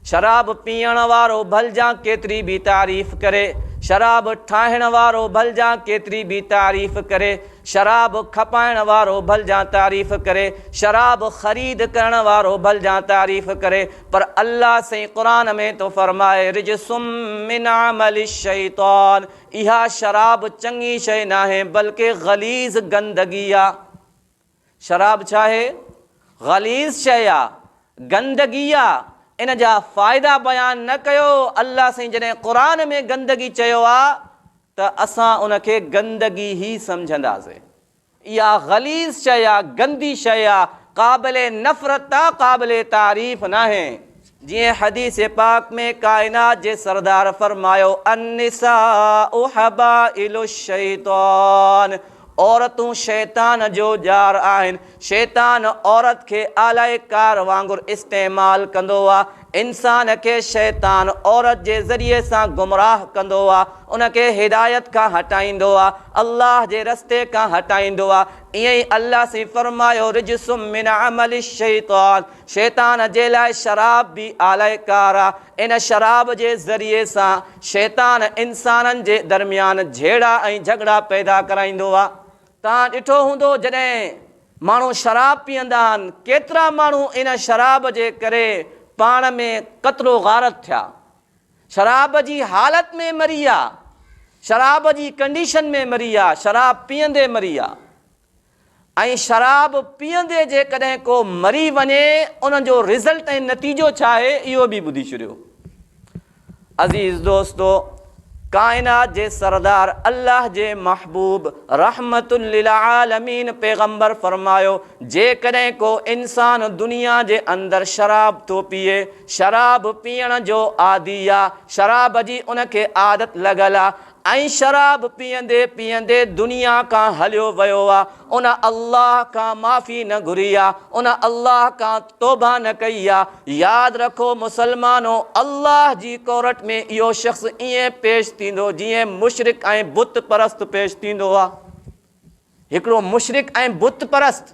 شراب پيئڻ وارو ڀلجان ڪيتري به تعريف ڪري، شراب ٺاهڻ وارو ڀلجان ڪيتري به تعريف ڪري، شراب کپائڻ وارو ڀلجان تعريف ڪري، شراب خريد ڪرڻ وارو ڀلجان تعريف ڪري، پر الله سائين قرآن ۾ ٿو فرمائي رجس من عمل الشيطان اها شراب چڱي شيء ناهي بلڪه غليظ گندگي آ. شراب ڇا آهي؟ غليظ شيء آ، گندگي آ، ان جا فائدا بيان نه ڪيو، الله سائين جڏهن قرآن ۾ گندگي چيو آ ته اسان ان کي گندگي ئي سمجهنداسين، اها غليظ شيء آ، گندي شيء آ، قابل نفرت آ، قابل تعريف ناهي. جيئن حديث پاڪ ۾ ڪائنات جي سردار فرمايو، النساء حبائل الشيطان، عورتون شيطان جو ڄار آهن، شيطان عورت کي آلائي ڪار وانگر استعمال ڪندو آ، انسان کي شيطان عورت جي ذريعي سان گمراهه ڪندو آ، ان کي هدايت کان هٽائيندو آ، الله جي رستي کان هٽائيندو آ، ائين ئي الله سائين فرمايو، رجس من عمل الشيطان، شيطان جي لاء شراب به آلائي ڪار آ. ان شراب جي ذريعي سان شيطان انسانن جي درميان جهيڙا ۽ جهڳڙا پيدا ڪرائيندو آ. توهان ڏٺو هوندو جڏهن ماڻهو شراب پيئندا آهن ڪيترا ماڻهو ان شراب جي ڪري پاڻ ۾ قتل و غارت ٿيا. شراب جي حالت ۾ مري آ. شراب جي ڪنڊيشن ۾ مري آ. شراب پيئندي مري آ. ۽ شراب پيئندي جيڪڏهن ڪو مري وڃي ان جو رزلٽ ۽ نتيجو ڇا آهي اهو به ٻڌي ڇڏيو. عزيز دوستو! ڪائنات جي سردار الله جي محبوب رحمت للعالمين پيغمبر فرمايو جيڪڏهن ڪو انسان دنيا جي اندر شراب ٿو پيئي، شراب پيئڻ جو عادي آ، شراب جي ان کي عادت لڳل آ، ۽ شراب پيئندي پيئندي دنيا کان هليو ويو آ، ان الله کان معافي نه گهري آ، ان الله کان توبه نه ڪئي آ. ياد رکو مسلمانو! الله جي ڪورٽ ۾ اهو شخص ائين پيش ٿيندو جيئن مشرڪ ۽ بت پرست پيش ٿيندو آ. هڪڙو مشرڪ ۽ بت پرست.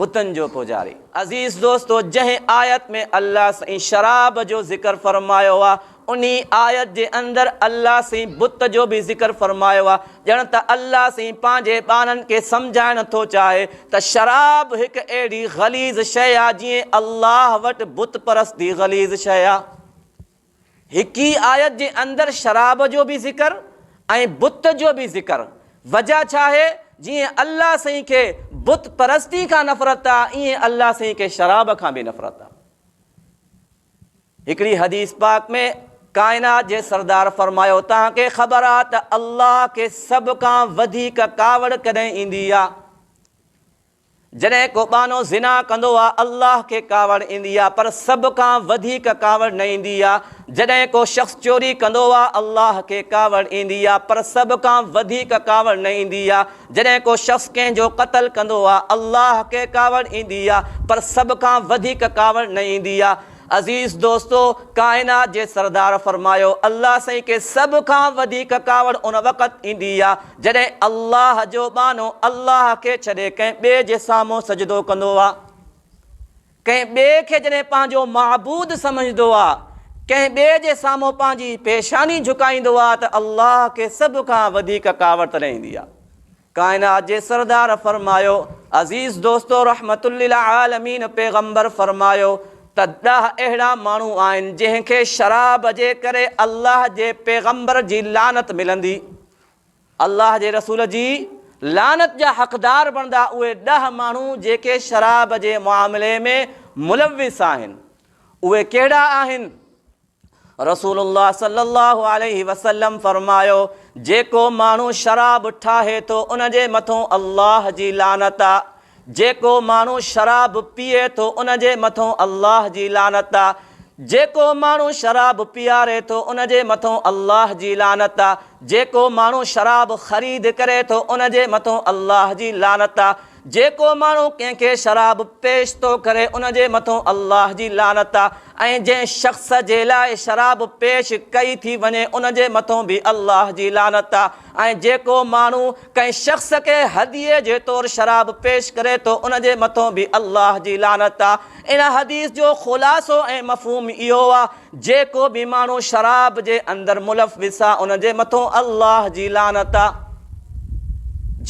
بتن جو پوجاري. عزيز دوستو جنهن آيت ۾ الله سائين شراب جو ذڪر فرمايو آ انهي آيت جي اندر الله سائين بت جو به ذڪر فرمايو آ ڄڻ ته الله سائين پنهنجي ٻانهن کي سمجهائڻ ٿو چاهي ته شراب هڪ اهڙي غليظ شيء آ جيئن الله وٽ بت پرستي غليظ شيء آ. هڪ ئي آيت جي اندر شراب جو به ذڪر ۽ بت جو به ذڪر وجهه ڇا آهي؟ جيئن الله سائين کي بت پرستي کان نفرت آ ايئن الله سائين کي شراب کان به نفرت آ. هڪڙي حديث پاڪ ۾ ڪائنات جي سردار فرمايو توهان کي خبر آ ته الله کي سڀ کان وڌيڪ ڪاوڙ ڪڏهن ايندي آ؟ جڏهن ڪو ٻانهو زنا ڪندو آ الله کي ڪاوڙ ايندي آ پر سڀ کان وڌيڪ ڪاوڙ نه ايندي آ جڏهن ڪو شخص چوري ڪندو آ الله کي ڪاوڙ ايندي آ پر سڀ کان وڌيڪ ڪاوڙ نه ايندي آ جڏهن ڪو شخص ڪنهن جو قتل ڪندو آ الله کي ڪاوڙ ايندي آ پر سڀ کان وڌيڪ ڪاوڙ نه ايندي آ عزيز دوستو! ڪائنات جي سردار فرمايو، الله سائين کي سڀ کان وڌيڪ ڪاوڙ ان وقت ايندي آ، جڏهن الله جو ٻانهو الله کي ڇڏي ڪنهن ٻئي جي سامهون سجدو ڪندو آ. ڪنهن ٻئي کي جڏهن پنهنجو معبود سمجهندو آ، ڪنهن ٻئي جي سامهون پنهنجي پيشاني جهڪائيندو آ ته الله کي سڀ کان وڌيڪ ڪاوڙ تڏهن ايندي آ. ڪائنات جي سردار فرمايو، عزيز دوستو رحمت للعالمين پيغمبر فرمايو ته ڏهه اهڙا ماڻهو آهن جنهن کي شراب جي ڪري الله جي پيغمبر جي لعنت ملندي الله جي رسول جي لعنت جا حقدار بڻدا اهي ڏهه ماڻهو جيڪي شراب جي معاملي ۾ ملوث آهن اهي ڪهڙا آهن؟ رسول الله صلي الله عليه وسلم فرمايو، جيڪو ماڻهو شراب ٺاهي ٿو ان جي مٿون الله جي لعنت آ، جيڪو ماڻهو شراب پيئي ٿو ان جي مٿون الله جي لعنت آ، جيڪو ماڻهو شراب پيئاري ٿو ان جي مٿون الله جي لعنت آ، جيڪو ماڻهو شراب خريد ڪري ٿو ان جي مٿون الله جي لعنت آ، جيڪو ماڻهو ڪنهن کي شراب پيش ٿو ڪري ان جي مٿو الله جي لعنت آ ۽ جنهن شخص جي لاء شراب پيش ڪئي ٿي وڃي ان جي مٿو به الله جي لعنت آ ۽ جيڪو ماڻهو ڪنهن شخص کي هديي جي طور شراب پيش ڪري ٿو ان جي مٿو به الله جي لعنت آ ان حديث جو خلاصو ۽ مفهوم اهو آ جي ڪو به ماڻهو شراب جي اندر ملوث آ ان جي مٿون الله جي لعنت آ.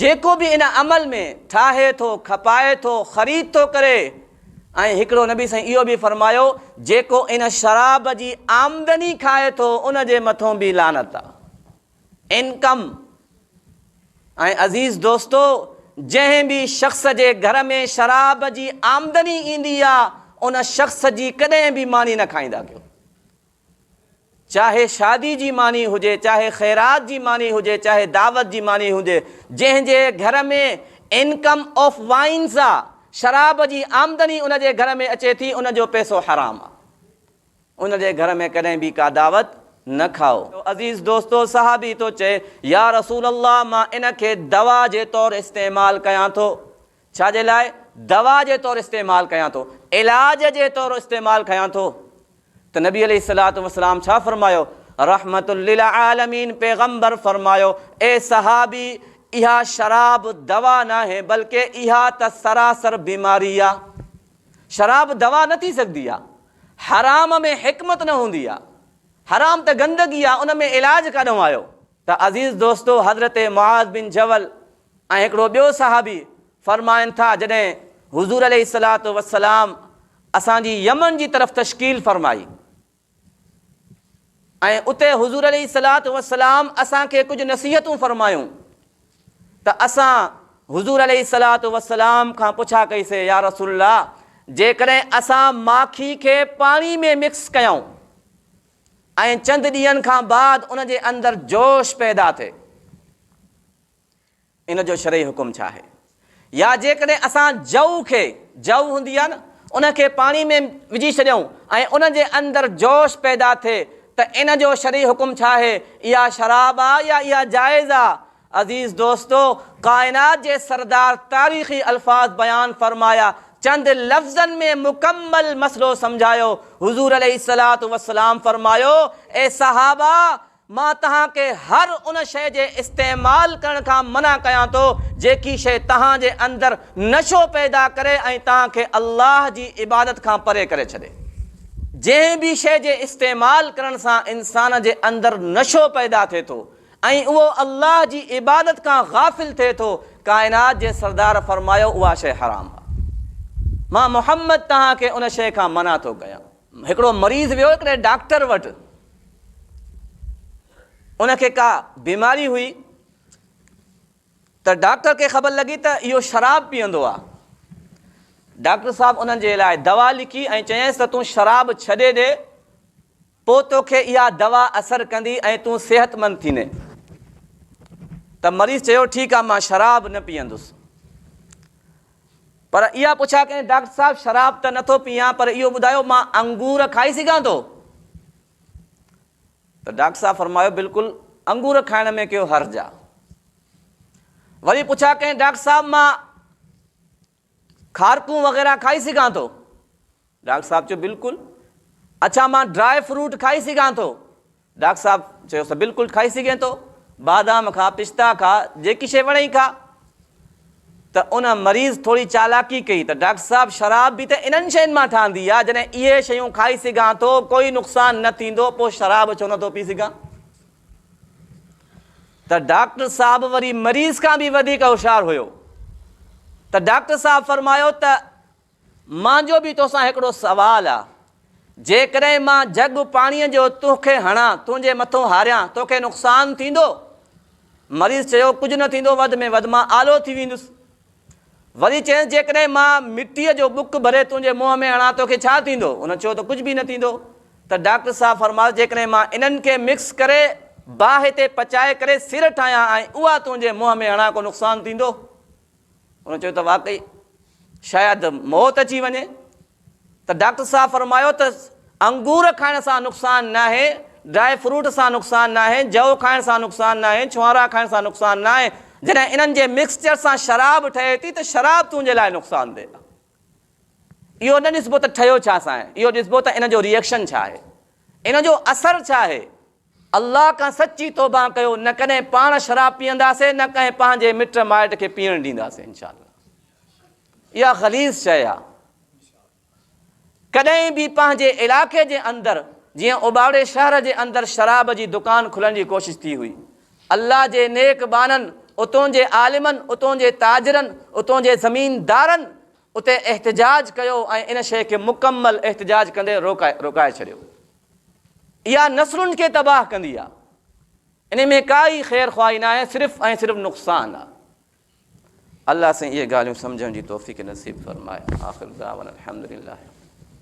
جي ڪو به ان عمل ۾ ٺاهي ٿو، کپائي ٿو، خريد ٿو ڪري ۽ هڪڙو نبي سائين اهو به فرمايو جي ڪو ان شراب جي آمدني کائي ٿو ان جي مٿون به لعنت آ. انڪم ۽ عزيز دوستو جنهن به شخص جي گهر ۾ شراب جي آمدني ايندي آ ان شخص جي ڪڏهن به ماني نه کائيندا ڪيو چاهي شادي جي ماني هجي چاهي خيرات جي ماني هجي چاهي دعوت جي ماني هجي جنهن جي گهر ۾ انڪم آف وائنز آ شراب جي آمدني ان جي گهر ۾ اچي ٿي ان جو پيسو حرام آ. ان جي گهر ۾ ڪڏهن به ڪا دعوت نه کائو. عزيز دوستو! صحابي ٿو چئي، يا رسول الله! مان ان کي دوا جي طور استعمال ڪيان ٿو. ڇا جي لاء؟ دوا جي طور استعمال ڪيان ٿو. علاج جي طور استعمال ڪيان ٿو. ته نبي عليه الصلوة والسلام ڇا فرمايو؟ رحمة للعالمين پيغمبر فرمايو، اي صحابي! اها شراب دوا ناهي، بلڪه اها ته سراسر بيماري آ. شراب دوا نه ٿي سگهندي آ. حرام ۾ حڪمت نه هوندي آ. حرام ته گندگي آ ان ۾ علاج ڪاڏهون آيو؟ ته عزيز دوستو حضرت معاذ بن جبل ۽ هڪڙو ٻيو صحابي فرمائن ٿا جڏهن حضور عليه الصلوة والسلام اسان جي يمن جي طرف تشڪيل فرمائي. ۽ اتي حضور عليه الصلوة والسلام اسان کي ڪجهه نصيحتون فرمايون ته اسان حضور عليه الصلوة والسلام کان پڇا ڪئي سي يا رسول الله جيڪڏهن اسان ماکي کي پاڻي ۾ مڪس ڪيائون ۽ چند ڏينهن کان بعد ان جي اندر جوش پيدا ٿئي ان جو شرعي حڪم ڇا آهي؟ يا جيڪڏهن اسان جوء کي، جوء هوندي آهي نه، ان کي پاڻي ۾ وجهي ڇڏيون ۽ ان جي اندر جوش پيدا ٿئي ته ان جو شرعي حڪم ڇا آهي؟ اها شراب آهي يا اها جائز آهي؟ عزيز دوستو! ڪائنات جي سردار تاريخي الفاظ بيان فرمايا، چند لفظن ۾ مڪمل مسئلو سمجهايو. حضور عليه الصلوة والسلام فرمايو، اي صحابه! مان توهان کي هر ان شيء جي استعمال ڪرڻ کان منع ڪيان ٿو، جيڪي شيء توهان جي اندر نشو پيدا ڪري ۽ توهان کي الله جي عبادت کان پري ڪري ڇڏي. جنهن به شيء جي استعمال ڪرڻ سان انسان جي اندر نشو پيدا ٿئي ٿو ۽ اهو الله جي عبادت کان غافل ٿئي ٿو، ڪائنات جي سردار فرمايو اها شيء حرام آهي. مان محمد توهان کي ان شيء کان منع ٿو ڪيان. هڪڙو مريض ويو هڪڙي ڊاڪٽر وٽ، ان کي ڪا بيماري هئي ته ڊاڪٽر کي خبر لڳي ته اهو شراب پيئندو آهي. ڊاڪٽر صاحب انهن جي لاء دوا لکي ۽ چيائينس ته تون شراب ڇڏي ڏي، پوء توکي اها دوا اثر ڪندي ۽ تون صحتمند ٿيندين. ته مريض چيو ٺيڪ آهي مان شراب نه پيئندس. پر اها پڇا ڪئين، ڊاڪٽر صاحب شراب ته نٿو پيئان پر اهو ٻڌايو مان انگور کائي سگهان ٿو؟ ته ڊاڪٽر صاحب فرمايو بلڪل انگور کائڻ ۾ ڪهو حرج آ؟ وري پڇا ڪئين ڊاڪٽر صاحب مان کارڪون وغيره کائي سگهان ٿو؟ ڊاڪٽر صاحب چيو، بلڪل. اڇا مان ڊراء فروٽ کائي سگهان ٿو؟ ڊاڪٽر صاحب چيوس، بلڪل کائي سگهين ٿو. بادام کاء، پستا کاء، جيڪي شيء وڻئي کاء. ته ان مريض ٿوري چالاڪي ڪئي ته، ڊاڪٽر صاحب شراب به ته انهن شين مان ٺهندي آهي، جڏهن اهي شيون کائي سگهان ٿو، ڪوئي نقصان نه ٿيندو، پوء شراب ڇو نه ٿو پي سگهان؟ ته ڊاڪٽر صاحب وري مريض کان به وڌيڪ هوشيار هيو. ته ڊاڪٽر صاحب فرمايو ته مانجو به توسان هڪڙو سوال آ. جيڪڏهن مان جڳ پاڻيء جو تون کي هڻان، تنهنجي مٿو هاريان، تو کي نقصان ٿيندو؟ مريض چيو، ڪجهه نه ٿيندو، وڌ ۾ وڌ مان آلو ٿي ويندس. وري چيس، جيڪڏهن مان مٽيء جو ٻڪ ڀري تنهنجي منهن ۾ هڻان، تو کي ڇا ٿيندو؟ هن چيو ته ڪجهه به نه ٿيندو. ته ڊاڪٽر صاحب فرمايو، جيڪڏهن مان انهن کي مڪس ڪري، باهه تي پچائي ڪري سر ٺاهيان ۽ اها تنهنجي منهن ۾ هڻان، ڪو نقصان ٿيندو؟ هن چيو ته واقعي شايد موت اچي وڃي ته ڊاڪٽر صاحب فرمايو ته انگور کائڻ سان نقصان ناهي، ڊرائي فروٽ سان نقصان ناهي، جوء کائڻ سان نقصان ناهي، ڇهارا کائڻ سان نقصان ناهي، جڏهن انهن جي مڪسچر سان شراب ٺهي ٿي ته شراب تنهنجي لاء نقصان ده آهي. اهو نه ڏسبو ته ٺهيو ڇا سان آهي، اهو ڏسبو ته ان جو ريئڪشن ڇا آهي، ان جو اثر ڇا آهي. الله کان سچي توبه ڪيو، نه ڪڏهن پاڻ شراب پيئنداسين، نه ڪنهن پنهنجي مٽ مائٽ کي پيئڻ ڏينداسين انشاء الله. اها غليظ شيء آهي. ڪڏهن به پنهنجي علائقي جي اندر جيئن اوٻاڙي شهر جي اندر شراب جي دڪان کلڻ جي ڪوشش ٿي هئي، الله جي نيڪ ٻانهن، اتون جي عالمن، اتون جي تاجرن، اتون جي زميندارن اتي احتجاج ڪيو ۽ ان شيء کي مڪمل احتجاج ڪندي روڪائي ڇڏيو. اها نسلن کي تباهه ڪندي آ. ان ۾ ڪا ئي خير خواهي ناهي صرف ۽ صرف نقصان آ. الله سائين اهي ڳالهيون سمجهڻ جي توفيق نصيب فرمائي. آخر دعوانا الحمدلله.